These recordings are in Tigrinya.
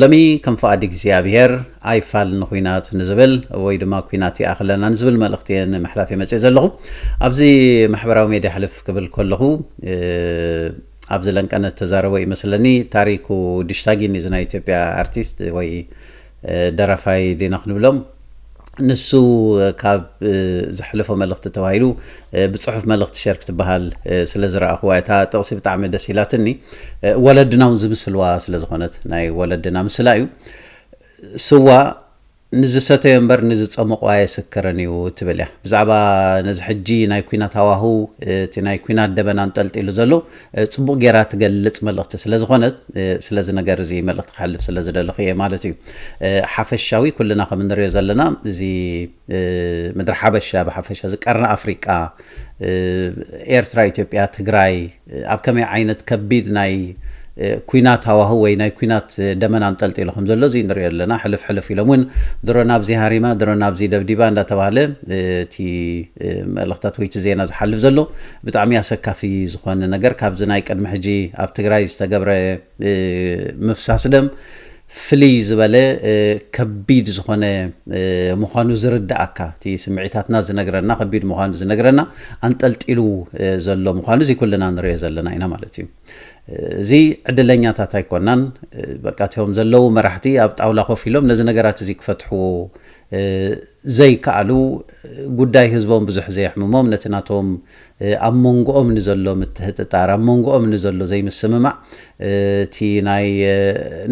ሎሚ ከም ፍቓድ እግዚኣብሄር ኣይፋል ንኹናት ንዝብል ወይ ድማ ኩናት ይኣኽለና ንዝብል መልእኽቲ እየ ንምሕላፍ እየ መፂኤ ዘለኹ። ኣብዚ ማሕበራዊ ሜድያ ሕልፍ ክብል ከለኹ ኣብዚ ለንቀነ ዝተዛረቦ ይመስለኒ ታሪኩ ድሽታጊን እዚ ናይ ኢትዮጵያ ኣርቲስት ወይ ደራፋይ ዲና ክንብሎም ንሱ ካብ ዘሕለፎ መልእኽቲ ተባሂሉ ብፅሑፍ መልእኽቲ ሸር ክትበሃል ስለ ዝረኣኹዋ እታ ጥቕሲ ብጣዕሚ ደስ ኢላትኒ ወለድና እውን ዝምስልዋ ስለ ዝኾነት ናይ ወለድና ምስላ እዩ ስዋ ንዝሰተዮ እምበር ንዝፀመቑ ኣየስክርን እዩ ትብል እያ ብዛዕባ ነዚ ሕጂ ናይ ኩናት ሃዋህው እቲ ናይ ኩናት ደበና እንጠልጢሉ ዘሎ ጽቡቕ ጌራ ትገልጽ መልእኽቲ ስለ ዝኾነት ስለዚ ነገር እዚ መልእኽቲ ክሕልፍ ስለ ዝደለኹ እየ ማለት እዩ። ሓፈሻዊ ኩልና ከም እንሪኦ ዘለና እዚ ምድሪ ሓበሻ ብሓፈሻ እዚ ቀርኒ ኣፍሪቃ ኤርትራ፣ ኢትዮጵያ፣ ትግራይ ኣብ ከመይ ዓይነት ከቢድ ናይ ኩናት ሃዋሁ ወይ ናይ ኩናት ደመና ኣንጠልጢሉ ከም ዘሎ እዚ ንሪኦ ኣለና። ሕልፍ ሕልፍ ኢሎም እውን ድሮ ናብዚ ሃሪማ ድሮ ናብዚ ደብዲባ እንዳተባህለ እቲ መልእኽታት ወይ እቲ ዜና ዝሓልፍ ዘሎ ብጣዕሚ ኣሰካፊ ዝኾነ ነገር ካብዚ ናይ ቅድሚ ሕጂ ኣብ ትግራይ ዝተገብረ ምፍሳስ ደም ፍልይ ዝበለ ከቢድ ዝኾነ ምዃኑ ዝርድኣካ እቲ ስምዒታትና ዝነግረና ከቢድ ምዃኑ ዝነግረና ኣንጠልጢሉ ዘሎ ምዃኑ እዚ ኩልና ንሪኦ ዘለና ኢና ማለት እዩ እዚ ዕድለኛታት ኣይኮናን በቃ እትዮም ዘለዉ መራሕቲ ኣብ ጣውላ ኮፍ ኢሎም ነዚ ነገራት እዚ ክፈትሕዎ ዘይከኣሉ፣ ጉዳይ ህዝቦም ብዙሕ ዘየሕምሞም፣ ነቲ ናቶም ኣብ ሞንጎኦም ንዘሎ ምትህጥጣር፣ ኣብ ሞንጎኦም ንዘሎ ዘይምስምማዕ፣ እቲ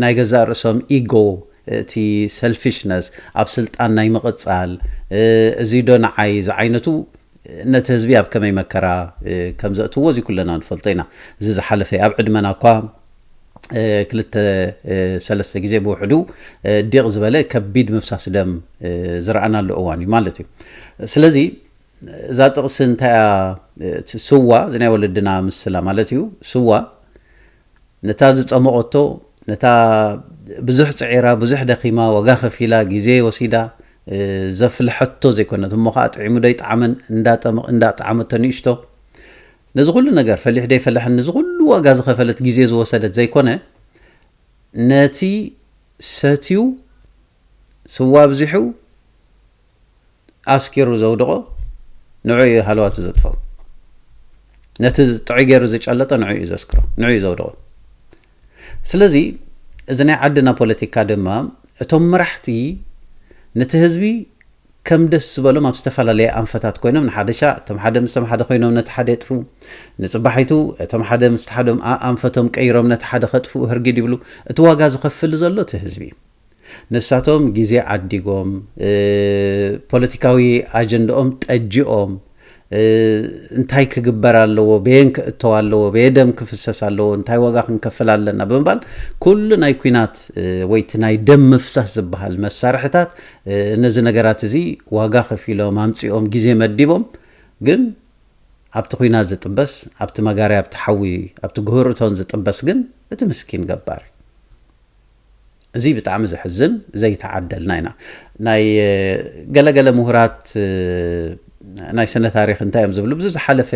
ናይ ገዛእ ርእሶም ኢጎ፣ እቲ ሰልፊሽነስ፣ ኣብ ስልጣን ናይ ምቕጻል፣ እዚዶ ንዓይ ዝዓይነቱ፣ ነቲ ህዝቢ ኣብ ከመይ መከራ ከም ዘእትዎ እዚ ኩልና ንፈልጦ ኢና። እዚ ዝሓለፈ'ዩ። ኣብ ዕድመና እኳ። ክልተ ሰለስተ ግዜ ብውሕዱ ዲቕ ዝበለ ከቢድ ምፍሳስ ደም ዝረኣናሉ እዋን እዩ ማለት እዩ ስለዚ እዛ ጥቕሲ እንታይ ስዋ እዚ ናይ ወለድና ምስላ ማለት እዩ ስዋ ነታ ዝፀመቐቶ ነታ ብዙሕ ፅዒራ ብዙሕ ደኺማ ዋጋ ከፊላ ግዜ ወሲዳ ዘፍልሐቶ ዘይኮነት እሞ ከዓ ጥዒሙ ዶ ይጠዓመን እንዳጠዓመቶ ንእሽቶ ነዚ ኩሉ ነገር ፈሊሑ ደይፈለሐን ንዚ ኩሉ ዋጋ ዝኸፈለት ግዜ ዝወሰደት ዘይኮነ ነቲ ሰትዩ ስዋ ኣብዚሑ ኣስኪሩ ዘውድቖ ንዑ እዩ ሃለዋቱ ዘጥፍኦ ነቲ ጥዑይ ገይሩ ዝጨለጦ ንዑ እዩ ዘስክሮ ንዑ እዩ ዘውድቖ ስለዚ እዚ ናይ ዓድና ፖለቲካ ድማ እቶም መራሕቲ ነቲ ህዝቢ ከም ደስ ዝበሎም ኣብ ዝተፈላለየ ኣንፈታት ኮይኖም ንሓደሻ እቶም ሓደ ምስቶም ሓደ ኮይኖም ነቲ ሓደ የጥፍኡ። ንጽባሒቱ እቶም ሓደ ምስቲ ሓደም ኣኣንፈቶም ቀይሮም ነቲ ሓደ ከጥፍኡ ህርጊድ ይብሉ። እቲ ዋጋ ዝኸፍል ዘሎ እቲ ህዝቢ እዩ። ንሳቶም ግዜ ዓዲጎም፣ ፖለቲካዊ ኣጀንደኦም ጠጂኦም፣ እንታይ ክግበር ኣለዎ፣ በየን ክእተው ኣለዎ፣ በየ ደም ክፍሰስ ኣለዎ፣ እንታይ ዋጋ ክንከፍል ኣለና ብምባል ኩሉ ናይ ኩናት ወይ እቲ ናይ ደም ምፍሳስ ዝበሃል መሳርሕታት ነዚ ነገራት እዚ ዋጋ ከፊሎም ኣምፂኦም ግዜ መዲቦም ግን ኣብቲ ኩናት ዝጥበስ ኣብቲ መጋርያ ኣብቲ ሓዊ ኣብቲ ግህር እቶን ዝጥበስ ግን እቲ ምስኪን ገባር እዩ። እዚ ብጣዕሚ ዘሕዝን ዘይተዓደልና ኢና ናይ ገለ ገለ ምሁራት ናይ ስነ ታሪክ እንታይ እዮም ዝብሉ ብዙ ዝሓለፈ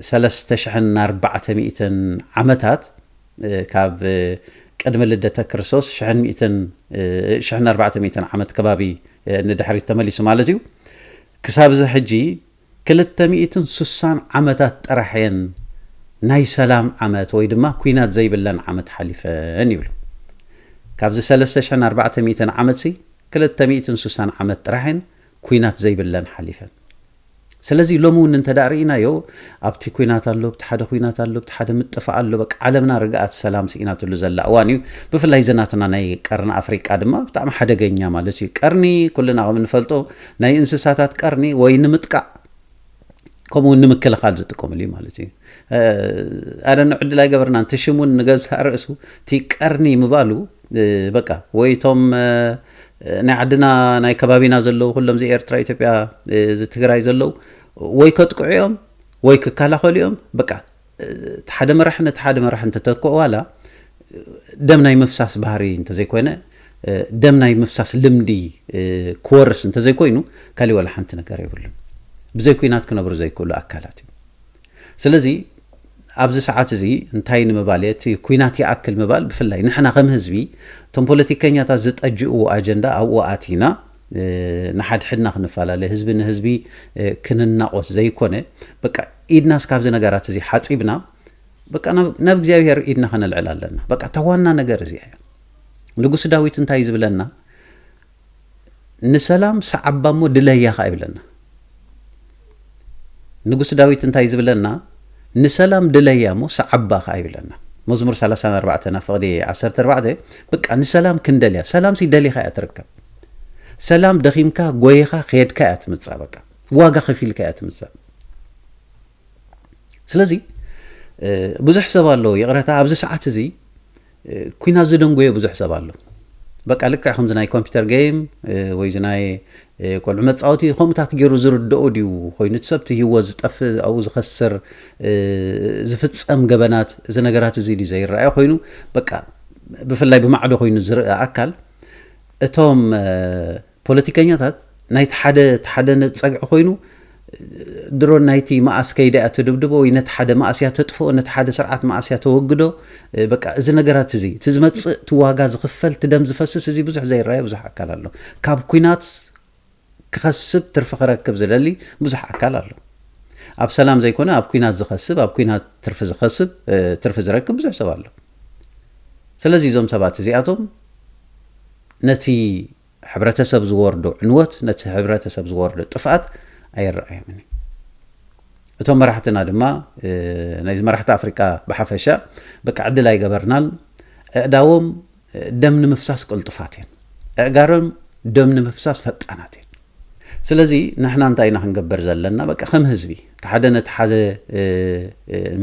ሰለስተ ሽሕን ኣርባዕተ ሚእትን ዓመታት ካብ ቅድሚ ልደተ ክርስቶስ ሽሕን ሚእትን ሽሕን ኣርባዕተ ሚእትን ዓመት ከባቢ ንድሕሪት ተመሊሱ ማለት እዩ ክሳብ እዚ ሕጂ ክልተ ሚእትን ስሳን ዓመታት ጥራሕ እየን ናይ ሰላም ዓመት ወይ ድማ ኲናት ዘይብለን ዓመት ሓሊፈን ይብሉ። ካብዚ ሰለስተ ሽሕን ኣርባዕተ ሚእትን ዓመትሲ ክልተ ሚእትን ስሳን ዓመት ጥራሕ እየን ኲናት ዘይብለን ሓሊፈን። ስለዚ ሎሚ እውን እንተ ርኢናዮ ኣብቲ ኲናት ኣሎ፣ ኣብቲ ሓደ ኲናት ኣሎ፣ ኣብቲ ሓደ ምጥፋእ ኣሎ፣ በቃ ዓለምና ርግኣት ሰላም ስኢናትሉ ዘላ እዋን እዩ። ብፍላይ እዚ ናትና ናይ ቀርኒ ኣፍሪቃ ድማ ብጣዕሚ ሓደገኛ ማለት እዩ። ቀርኒ ኩልና ከም እንፈልጦ ናይ እንስሳታት ቀርኒ ወይ ንምጥቃዕ ከምኡ ውን ንምክልኻል ዝጥቀምሉ እዩ ማለት እዩ ኣደነ ዕድል ኣይገበርናን እቲ ሽም ውን ንገዝእ ርእሱ እቲ ቀርኒ ምባሉ በቃ ወይ እቶም ናይ ዓድና ናይ ከባቢና ዘለዉ ኩሎም ዚ ኤርትራ ኢትዮጵያ እዚ ትግራይ ዘለዉ ወይ ከጥቅዑ እዮም ወይ ክከላኸሉ እዮም በቃ እቲ ሓደ መራሒ ነቲ ሓደ መራሒ እንተተክኦ ዋላ ደም ናይ ምፍሳስ ባህሪ እንተዘይኮይነ ደም ናይ ምፍሳስ ልምዲ ክወርስ እንተዘይኮይኑ ካሊእ ዋላ ሓንቲ ነገር የብሉን። ብዘይ ኩናት ክነብሩ ዘይክእሉ ኣካላት እዩ። ስለዚ ኣብዚ ሰዓት እዚ እንታይ ንምባል እየ እቲ ኩናት ይኣክል ምባል ብፍላይ ንሕና ከም ህዝቢ እቶም ፖለቲከኛታት ዝጠጅእዎ ኣጀንዳ ኣብኡ ኣቲና ንሓድሕድና ክንፈላለ ህዝቢ ንህዝቢ ክንናቖት ዘይኮነ በቃ ኢድናስ ካብዚ ነገራት እዚ ሓፂብና በቃ ናብ እግዚኣብሔር ኢድና ከነልዕል ኣለና በቃ እታ ዋና ነገር እዚኣ እያ ንጉስ ዳዊት እንታይ ዝብለና ንሰላም ሰዓባ እሞ ድለያ ኸ ይብለና ንጉስ ዳዊት እንታይ ዝብለና ንሰላም ድለያ እሞ ሰዓባ ከኣ ይብለና መዝሙር ሰላሳን ኣርባዕተን ኣብ ፍቕዲ ዓሰርተ ኣርባዕተ በቃ ንሰላም ክንደልያ ሰላምሲ ደሊኻ እያ ትርከብ ሰላም ደኺምካ ጎይኻ ከድካ እያ ትምጻእ በቃ ዋጋ ከፊልካ እያ ትምጻእ ስለዚ ብዙሕ ሰብ ኣሎ ይቕረታ ኣብዚ ሰዓት እዚ ኩናት ዝደንጎየ ብዙሕ ሰብ ኣሎ በቃ ልክዕ ከምዚ ናይ ኮምፒውተር ገይም ወይ እዚ ናይ ቆልዑ መፃወቲ ከምኡታት ገይሩ ዝርድኦ ድዩ ኮይኑ እቲ ሰብቲ ህይወት ዝጠፍእ ኣብኡ ዝኸስር ዝፍፀም ገበናት እዚ ነገራት እዚ ድዩ ዘይረኣየ ኮይኑ በቃ ብፍላይ ብማዕዶ ኮይኑ ዝርአ ኣካል እቶም ፖለቲከኛታት ናይቲ ሓደ እቲ ሓደ ጸግዒ ኮይኑ ድሮ ናይቲ መኣስ ከይዳ እያ ተድብድቦ ወይ ነቲ ሓደ መኣስ እያ ተጥፍኦ ነቲ ሓደ ስርዓት መኣስ እያ ተወግዶ በቃ እዚ ነገራት እዚ እቲ ዝመጽእ እቲ ዋጋ ዝኽፈል እቲ ደም ዝፈስስ እዚ ብዙሕ ዘይረኣየ ብዙሕ ኣካል ኣሎ ካብ ኩናት ክኸስብ ትርፊ ክረክብ ዝደሊ ብዙሕ ኣካል ኣሎ ኣብ ሰላም ዘይኮነ ኣብ ኩናት ዝኸስብ ኣብ ኩናት ትርፊ ዝኸስብ ትርፊ ዝረክብ ብዙሕ ሰብ ኣሎ ስለዚ እዞም ሰባት እዚኣቶም ነቲ ሕብረተሰብ ዝወርዶ ዕንወት ነቲ ሕብረተሰብ ዝወርዶ ጥፍኣት ኣየረኣዮምን እዩ። እቶም መራሕትና ድማ ናይ መራሕቲ ኣፍሪቃ ብሓፈሻ በቃ ዕድል ኣይገበርናን ኣእዳዎም ደም ንምፍሳስ ቅልጡፋት እየን ኣእጋሮም ደም ንምፍሳስ ፈጣናት እየን ስለዚ ንሕና እንታይ ኢና ክንገበር ዘለና በቃ ከም ህዝቢ እቲ ሓደ ነቲ ሓደ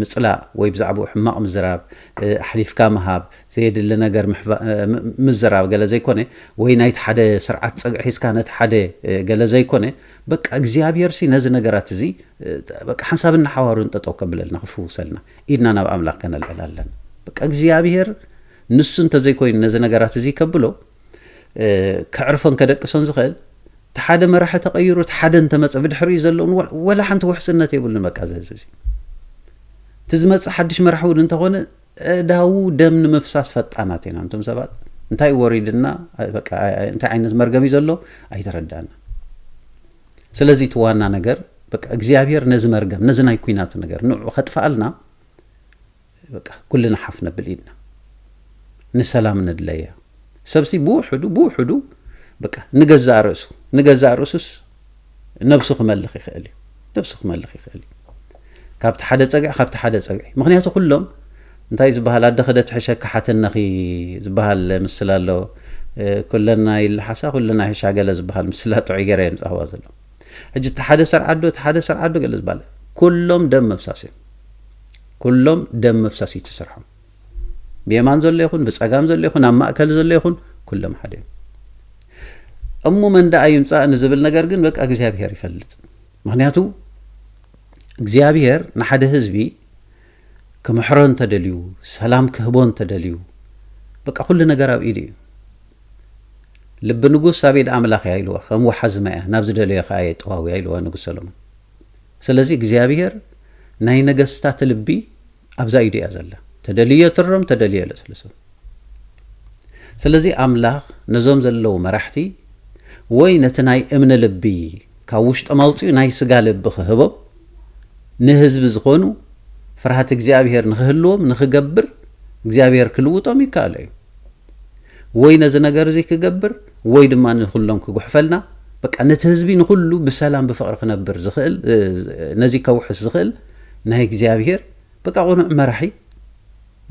ምፅላእ ወይ ብዛዕባኡ ሕማቕ ምዝራብ ኣሕሊፍካ ምሃብ ዘየድሊ ነገር ምዝራብ ገለ ዘይኮነ ወይ ናይቲ ሓደ ስርዓት ጽግዒ ሒዝካ ነቲ ሓደ ገለ ዘይኮነ በቃ እግዚኣብሄርሲ ነዚ ነገራት እዚ በቃ ሓንሳብን ንሓዋሩን ጠጠው ከብለልና ክፍውሰልና ኢድና ናብ ኣምላኽ ከነልዕል ኣለና። በቃ እግዚኣብሄር ንሱ እንተዘይኮይኑ ነዚ ነገራት እዚ ከብሎ ከዕርፎን ከደቅሶን ዝኽእል እቲ ሓደ መራሒ ተቐይሩ እቲ ሓደ እንተመፀ ብድሕሪኡ ዘለውን ወላ ሓንቲ ውሕስነት የብሉን በቃ እዚ ህዝቢ እቲ ዝመፅእ ሓድሽ መራሒ እውን እንተኾነ ኣእዳዉ ደም ንምፍሳስ ፈጣናት ኢና ኣንቱም ሰባት እንታይ ወሪድና በቃ እንታይ ዓይነት መርገም እዩ ዘሎ ኣይተረዳና ስለዚ እቲ ዋና ነገር በቃ እግዚኣብሔር ነዚ መርገም ነዚ ናይ ኩናት ነገር ንዑ ከጥፍኣልና በቃ ኩልና ሓፍ ነብል ኢድና ንሰላም ንድለያ ሰብሲ ብውሕዱ ብውሕዱ በቃ ንገዛእ ርእሱ ንገዛእ ርእሱስ ነብሱ ክመልኽ ይኽእል እዩ ነብሱ ክመልኽ ይኽእል እዩ ካብቲ ሓደ ጸግዒ ካብቲ ሓደ ጸግዒ ምክንያቱ ኩሎም እንታይ ዝበሃል ኣደ ክደ ትሕሸኪ ሓትነኺ ዝበሃል ምስላ ኣሎ ኩለና ይልሓሳ ኩለና ይሕሻ ገለ ዝበሃል ምስላ ጥዑይ ገረ እዮም ጻህዋ ዘሎ ሕጂ እቲ ሓደ ሰርዓዶ እቲ ሓደ ሰርዓዶ ገለ ዝበሃል ኩሎም ደም መፍሳስ እዮም ኩሎም ደም መፍሳስ እዩ ትስርሖም ብየማን ዘሎ ይኹን ብጸጋም ዘሎ ይኹን ኣብ ማእከል ዘሎ ይኹን ኩሎም ሓደ እዮም እሞ መን ደኣ ይምጻእ ንዝብል ነገር ግን በቃ እግዚኣብሄር ይፈልጥ ምክንያቱ እግዚኣብሄር ንሓደ ህዝቢ ክምሕሮ እንተደልዩ ሰላም ክህቦ እንተደልዩ በቃ ኩሉ ነገር ኣብ ኢዱ እዩ ልቢ ንጉስ ኣብ ኢድ ኣምላኽ እያ ኢልዋ ከም ወሓዚ ማያ ናብ ዝደለዮ ከዓ የጠዋውያ ኢልዋ ንጉስ ሰሎሞን ስለዚ እግዚኣብሄር ናይ ነገስታት ልቢ ኣብዛ ኢዱ እያ ዘላ ተደልዮ ትርም ተደልዮ ለስልሶ ስለዚ ኣምላኽ ነዞም ዘለዉ መራሕቲ ወይ ነቲ ናይ እምነ ልቢ ካብ ውሽጦም ኣውፅኡ ናይ ስጋ ልቢ ክህቦም ንህዝቢ ዝኾኑ ፍርሃት እግዚኣብሄር ንክህልዎም ንክገብር እግዚኣብሄር ክልውጦም ይከኣሎ እዩ ወይ ነዚ ነገር እዚ ክገብር ወይ ድማ ንኩሎም ክጉሕፈልና በቃ ነቲ ህዝቢ ንኩሉ ብሰላም ብፍቕሪ ክነብር ዝኽእል ነዚ ከውሕስ ዝኽእል ናይ እግዚኣብሔር በቃ ቁኑዕ መራሒ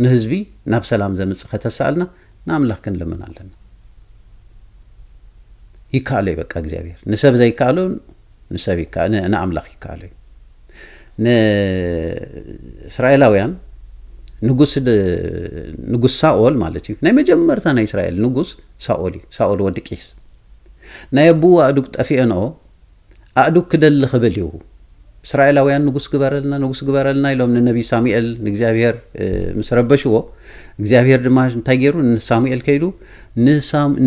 ንህዝቢ ናብ ሰላም ዘምጽእ ከተሳእልና ንኣምላክ ክንልምን ኣለና ይከኣሎ እዩ በቃ እግዚኣብሔር ንሰብ ዘይከኣሎ ንሰብ ንኣምላክ ይከኣሎ እዩ ንእስራኤላውያን ንጉስ ንጉስ ሳኦል ማለት እዩ ናይ መጀመርታ ናይ እስራኤል ንጉስ ሳኦል እዩ ሳኦል ወዲ ቂስ ናይ ኣቡኡ ኣእዱግ ጠፊኤንኦ ኣእዱግ ክደሊ ክብል እዩ። እስራኤላውያን ንጉስ ግበረልና ንጉስ ግበረልና ኢሎም ንነቢይ ሳሙኤል ንእግዚኣብሄር ምስ ረበሽዎ እግዚኣብሄር ድማ እንታይ ገይሩ ንሳሙኤል ከይዱ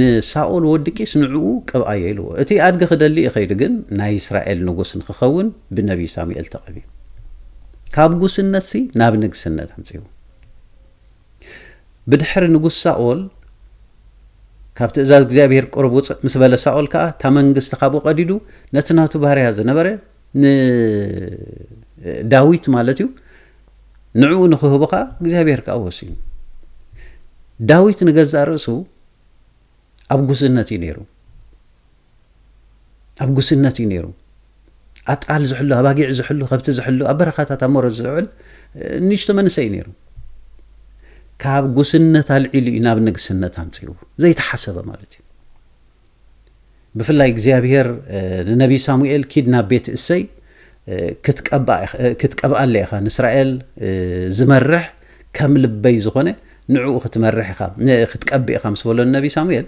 ንሳኦል ወዲ ቂስ ንዕኡ ቅብኣዮ ኢልዎ እቲ ኣድጊ ክደሊ እዩ ከይዱ ግን ናይ እስራኤል ንጉስ ንክኸውን ብነቢይ ሳሙኤል ተቐብዩ ካብ ጉስነትሲ ናብ ንግስነት ኣምፅኡ ብድሕሪ ንጉስ ሳኦል ካብ ትእዛዝ እግዚኣብሄር ቅሩብ ውጽእ ምስ በለ ሳኦል ከኣ እታ መንግስቲ ካብኡ ቀዲዱ ነቲ ናቱ ባርያ ዝነበረ ንዳዊት ማለት እዩ ንዕኡ ንክህቦ ከዓ እግዚኣብሔር ከዓ ወሲኑ ዳዊት ንገዛእ ርእሱ ኣብ ጉስነት እዩ ነይሩ ኣብ ጉስነት እዩ ነይሩ። ኣጣል ዝሕሉ፣ ኣባጊዕ ዝሕሉ፣ ከብቲ ዝሕሉ፣ ኣብ በረኻታት ኣብ ሞረት ዝውዕል ንእሽቶ መንእሰይ እዩ ነይሩ። ካብ ጉስነት ኣልዒሉ እዩ ናብ ንግስነት ኣምፂኡ ዘይተሓሰበ ማለት እዩ። ብፍላይ እግዚኣብሄር ንነቢይ ሳሙኤል ኪድ ናብ ቤት እሰይ ክትቀብኣለ ኢኻ ንእስራኤል ዝመርሕ ከም ልበይ ዝኾነ ንዕኡ ክትመርሕ ኢኻ ክትቀቢ ኢኻ ምስ በሎ ንነቢይ ሳሙኤል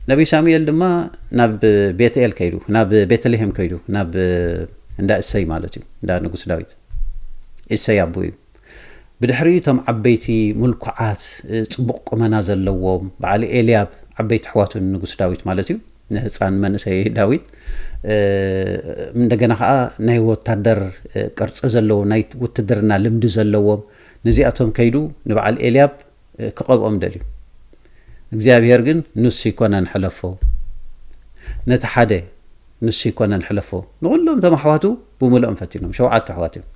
ነብዪ ሳሙኤል ድማ ናብ ቤትኤል ከይዱ፣ ናብ ቤተልሔም ከይዱ፣ ናብ እንዳ እሴይ ማለት እዩ፣ እንዳ ንጉስ ዳዊት፣ እሴይ ኣቦኡ እዩ። ብድሕሪኡ እቶም ዓበይቲ ምልኩዓት፣ ጽቡቕ ቁመና ዘለዎም፣ በዓል ኤልያብ፣ ዓበይቲ ኣሕዋቱ ንንጉስ ዳዊት ማለት እዩ፣ ንህጻን መንእሰይ ዳዊት፣ እንደገና ከኣ ናይ ወታደር ቅርጺ ዘለዎም፣ ናይ ውትድርና ልምዲ ዘለዎም፣ ነዚኣቶም ከይዱ ንበዓል ኤልያብ፣ ክቐብኦም ደልዩ እግዚኣብሄር ግን ንሱ ይኮነን ሕለፎ ነቲ ሓደ ንሱ ይኮነን ሕለፎ ንኹሎም እቶም ኣሕዋቱ ብምልኦም ፈቲኖም ሸውዓተ ኣሕዋት እዮም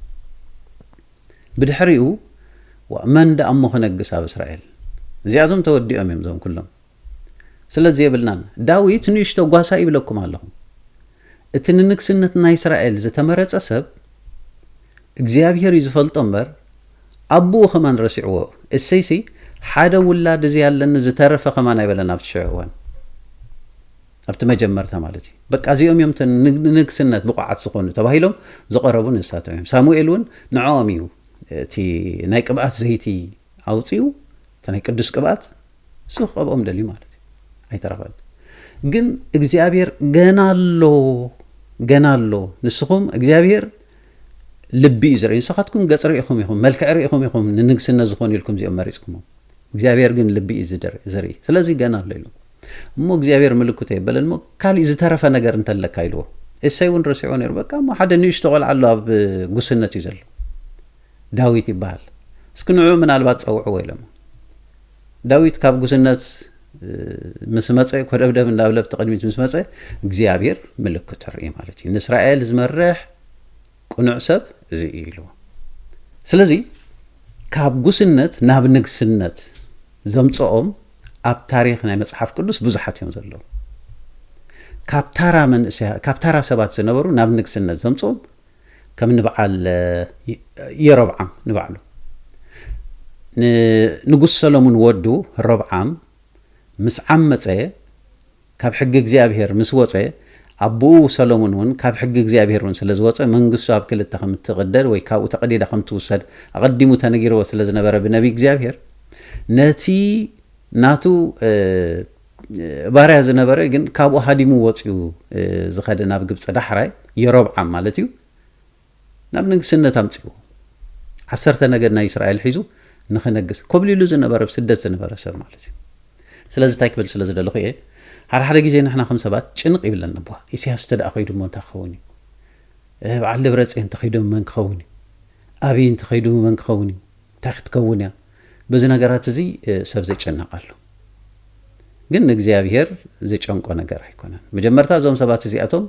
ብድሕሪኡ መን ደኣ እሞ ክነግስ ኣብ እስራኤል እዚኣቶም ተወዲኦም እዮም እዞም ኩሎም ስለ ዜብልናን፣ ዳዊት ንእሽቶ ጓሳ ይብለኩም ኣለኹ። እቲ ንንግስነት ናይ እስራኤል ዝተመረጸ ሰብ፣ እግዚኣብሄር እዩ ዝፈልጦ እምበር፣ ኣቦኡ ከማን ረሲዕዎ። እሴይሲ፣ ሓደ ውላድ እዚ ኣለኒ ዝተረፈ ከማን ኣይበለን ኣብቲ ሽዑ እዋን። ኣብቲ መጀመርታ ማለት እዩ። በቃ እዚኦም እዮም እቶም ንንግስነት ብቑዓት ዝኾኑ ተባሂሎም ዝቐረቡ ንሳቶም እዮም። ሳሙኤል እውን ንዕኦም እዩ እቲ ናይ ቅብኣት ዘይቲ ኣውጺኡ፣ እቲ ናይ ቅዱስ ቅብኣት ንሱ ክቐብኦም ደልዩ ማለት እዩ ኣይተረኸበን ግን እግዚኣብሔር ገና ኣሎ ገና ኣሎ ንስኹም እግዚኣብሔር ልቢ እዩ ዝርኢ ንስኻትኩም ገፅ ርኢኹም ኢኹም መልክዕ ርኢኹም ኢኹም ንንግስነት ዝኾኑ ኢልኩም እዚኦም መሪፅኩሞም እግዚኣብሔር ግን ልቢ እዩ ዝርኢ ስለዚ ገና ኣሎ ኢሉ እሞ እግዚኣብሔር ምልክቶ የበለን እሞ ካሊእ ዝተረፈ ነገር እንተለካ ኢልዎ እሰይ እውን ረሲዖ ነይሩ በቃ እሞ ሓደ ንእሽቶ ቆልዓ ኣሎ ኣብ ጉስነት እዩ ዘሎ ዳዊት ይበሃል። እስኪ ንዕዑ ምናልባት ጸውዕዎ ኢሎሞ። ዳዊት ካብ ጉስነት ምስ መጸ፣ ኮደብደብ እንዳብለብቲ ቅድሚት ምስ መጸ፣ እግዚኣብሔር ምልክቱ ኣርእዩ ማለት እዩ። ንእስራኤል ዝመርሕ ቅኑዕ ሰብ እዚ እዩ ኢልዎ። ስለዚ ካብ ጉስነት ናብ ንግስነት ዘምጽኦም ኣብ ታሪኽ ናይ መጽሓፍ ቅዱስ ብዙሓት እዮም ዘለዉ። ካብ ታራ መንእሰያ ካብ ታራ ሰባት ዝነበሩ ናብ ንግስነት ዘምጽኦም ከም ንብዓል የሮብዓም ንባዕሉ ንንጉስ ሰለሙን ወዱ ሮብዓም ምስ ዓመጸ ካብ ሕጊ እግዚኣብሔር ምስ ወጸ ኣቦኡ ሰለሙን እውን ካብ ሕጊ እግዚኣብሔር እውን ስለ ዝወጸ መንግስቱ ኣብ ክልተ ከም እትቕደድ ወይ ካብኡ ተቐዲዳ ከም ትውሰድ ኣቐዲሙ ተነጊርዎ ስለ ዝነበረ ብነቢይ እግዚኣብሔር ነቲ ናቱ ባርያ ዝነበረ ግን ካብኡ ሃዲሙ ወጽዩ ዝኸደ ናብ ግብጺ ዳሕራይ የሮብዓም ማለት እዩ ናብ ንግስነት ኣምጽዎ ዓሰርተ ነገድ ናይ እስራኤል ሒዙ ንኽነግስ ኮብሊሉ ዝነበረ ስደት ዝነበረ ሰብ ማለት እዩ ስለዚ እንታይ ክብል ስለ ዝደለኹ እየ ሓደ ሓደ ግዜ ንሕና ከም ሰባት ጭንቕ ይብለና ቧ ኢሳያስ እንተ ደኣ ከይዱ እሞ እንታይ ክኸውን እዩ በዓል ደብረፅዮን እንተኸይዶም መን ክኸውን እዩ ኣብይ እንተኸይዱ መን ክኸውን እዩ እንታይ ክትከውን እያ በዚ ነገራት እዚ ሰብ ዝጨነቅ ኣሎ ግን ንእግዚኣብሄር ዝጨንቆ ነገር ኣይኮነን መጀመርታ እዞም ሰባት እዚኣቶም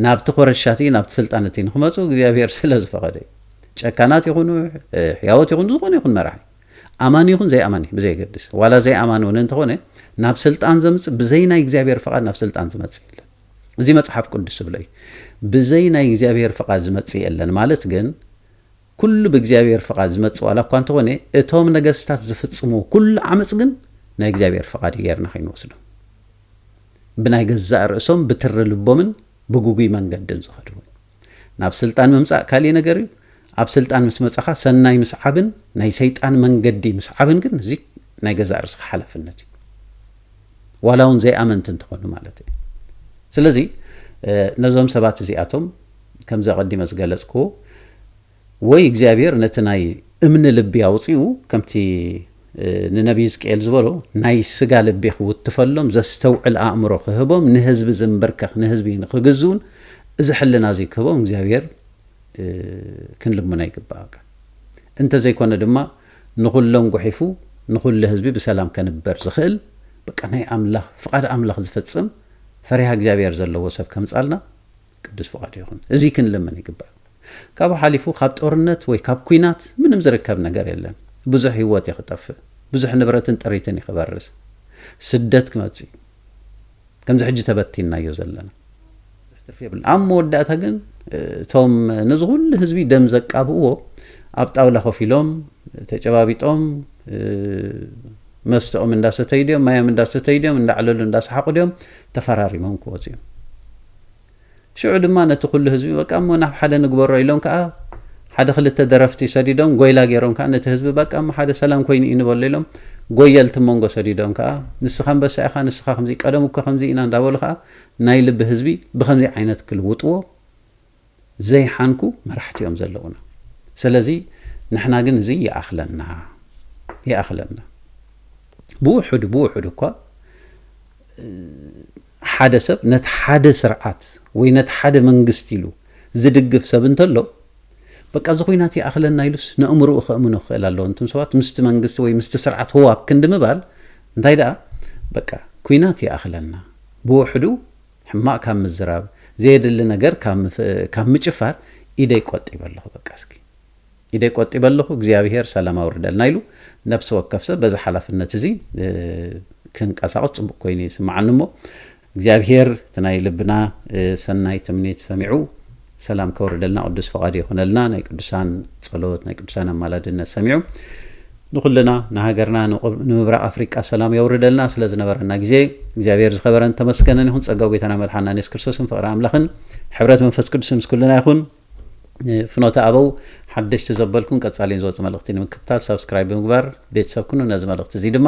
ናብቲ ኮረሻ እቲ ናብቲ ስልጣን እቲ ንክመፁ እግዚኣብሄር ስለ ዝፈቀደ እዩ ጨካናት ይኹኑ ሕያወት ይኹኑ ዝኾነ ይኹን መራሒ ኣማኒ ይኹን ዘይኣማኒ ብዘየገድስ ዋላ ዘይኣማኒ እውን እንተኾነ ናብ ስልጣን ዘምፅእ ብዘይ ናይ እግዚኣብሄር ፈቃድ ናብ ስልጣን ዝመፅእ የለን እዚ መፅሓፍ ቅዱስ ዝብሎ እዩ ብዘይ ናይ እግዚኣብሄር ፈቃድ ዝመፅእ የለን ማለት ግን ኩሉ ብእግዚኣብሔር ፍቓድ ዝመጽእ ዋላ እኳ እንተኾነ እቶም ነገስታት ዝፍጽምዎ ኩሉ ዓመጽ ግን ናይ እግዚኣብሔር ፍቓድ እዩ ጌርና ከይንወስዶ ብናይ ገዛእ ርእሶም ብትሪ ልቦምን ብጉጉይ መንገድን ዝኸዱ እውን ናብ ስልጣን ምምጻእ ካልእ ነገር እዩ ኣብ ስልጣን ምስ መጻኻ ሰናይ ምስዓብን ናይ ሰይጣን መንገዲ ምስዓብን ግን እዚ ናይ ገዛእ ርእስኻ ሓላፍነት እዩ ዋላ እውን ዘይኣመንቲ እንትኾኑ ማለት እዩ ስለዚ ነዞም ሰባት እዚኣቶም ከምዚ ኣቐዲመ ዝገለጽክዎ ወይ እግዚኣብሔር ነቲ ናይ እምኒ ልቢ ኣውጺኡ ከምቲ ንነቢ ሕዝቅኤል ዝበሎ ናይ ስጋ ልቢ ክውትፈሎም ዘስተውዕል ኣእምሮ ክህቦም ንህዝቢ ዝንብርከኽ ንህዝቢ ንክግዝኡን እዚ ሕልና እዚ ክህቦም እግዚኣብሔር ክንልምኖ ይግባእ እንተዘይኮነ ድማ ንኹሎም ጉሒፉ ንኹሉ ህዝቢ ብሰላም ከንበር ዝኽእል በቃ ናይ ኣምላኽ ፍቓድ ኣምላኽ ዝፈጽም ፈሪሃ እግዚኣብሔር ዘለዎ ሰብ ከምጻልና ቅዱስ ፍቃዱ ይኹን እዚ ክንልምን ይግባእ ካብኡ ሓሊፉ ካብ ጦርነት ወይ ካብ ኩናት ምንም ዝርከብ ነገር የለን ብዙሕ ሂወት እዩ ክጠፍእ ብዙሕ ንብረትን ጥሪትን እዩ ክበርስ ስደት ክመጽእ እዩ ከምዚ ሕጂ ተበቲንናዮ ዘለና ብዙሕ ትርፊ የብልን ኣብ መወዳእታ ግን እቶም ነዚ ኩሉ ህዝቢ ደም ዘቃብእዎ ኣብ ጣውላ ኮፍ ኢሎም ተጨባቢጦም መስተኦም እንዳሰተዩ ድዮም ማዮም እንዳሰተዩ ድዮም እንዳዕለሉ እንዳሰሓቑ ድዮም ተፈራሪሞም ክወፁ እዮም ሽዑ ድማ ነቲ ኩሉ ህዝቢ በቃ እሞ ናብ ሓደ ንግበሮ ኢሎም ከኣ ሓደ ክልተ ደረፍቲ ሰዲዶም ጎይላ ጌሮም ከኣ ነቲ ህዝቢ በቃ እሞ ሓደ ሰላም ኮይኑ እዩ ንበሎ ኢሎም ጎየልቲ መንጎ ሰዲዶም ከኣ ንስኻ ኣንበሳ ኢኻ ንስኻ ከምዚ ቀደም እኮ ከምዚ ኢና እንዳበሉ ከኣ ናይ ልቢ ህዝቢ ብከምዚ ዓይነት ክልውጥዎ ዘይሓንኩ መራሕቲ እዮም ዘለዉና ሰለዚ ንሕና ግን እዚ ይኣኽለና ይኣኽለና ብውሑዱ ብውሑዱ እኳ ሓደ ሰብ ነቲ ሓደ ስርዓት ወይ ነቲ ሓደ መንግስቲ ኢሉ ዝድግፍ ሰብ እንተሎ በቃ እዚ ኩናት ይኣኽለና ኢሉስ ንእምርኡ ከእምኖ ክኽእል ኣለዎ እንቱም ሰባት ምስቲ መንግስቲ ወይ ምስቲ ስርዓት ህዋብ ክንዲ ምባል እንታይ ደኣ በቃ ኩናት ይኣኽለና ብውሕዱ ሕማቅ ካብ ምዝራብ ዘየድሊ ነገር ካብ ምጭፋር ኢደይ ቆጢበ ኣለኹ በቃ እስኪ ኢደይ ቆጢበ ኣለኹ እግዚኣብሄር ሰላም ኣውርደልና ኢሉ ነብሲ ወከፍ ሰብ በዚ ሓላፍነት እዚ ክንቀሳቀስ ጽቡቅ ኮይኑ ይስምዓኒ እሞ እግዚኣብሄር እቲ ናይ ልብና ሰናይ ትምኒት ሰሚዑ ሰላም ከውርደልና ቅዱስ ፍቃዱ ይኹነልና ናይ ቅዱሳን ጸሎት ናይ ቅዱሳን ኣማላድነት ሰሚዑ ንኹልና ንሃገርና ንምብራቅ ኣፍሪቃ ሰላም የውርደልና ስለ ዝነበረና ግዜ እግዚኣብሔር ዝኸበረን ተመስገነን ይኹን ጸጋ ጎይታና መልሓና የሱስ ክርስቶስን ፍቅሪ ኣምላኽን ሕብረት መንፈስ ቅዱስን ምስ ኩልና ይኹን ፍኖተ ኣበው ሓደሽቲ ዘበልኩን ቀጻሊን ዝወጽእ መልእኽቲ ንምክትታል ሳብስክራይብ ብምግባር ቤተሰብ ኩኑ ነዚ መልእኽቲ እዚ ድማ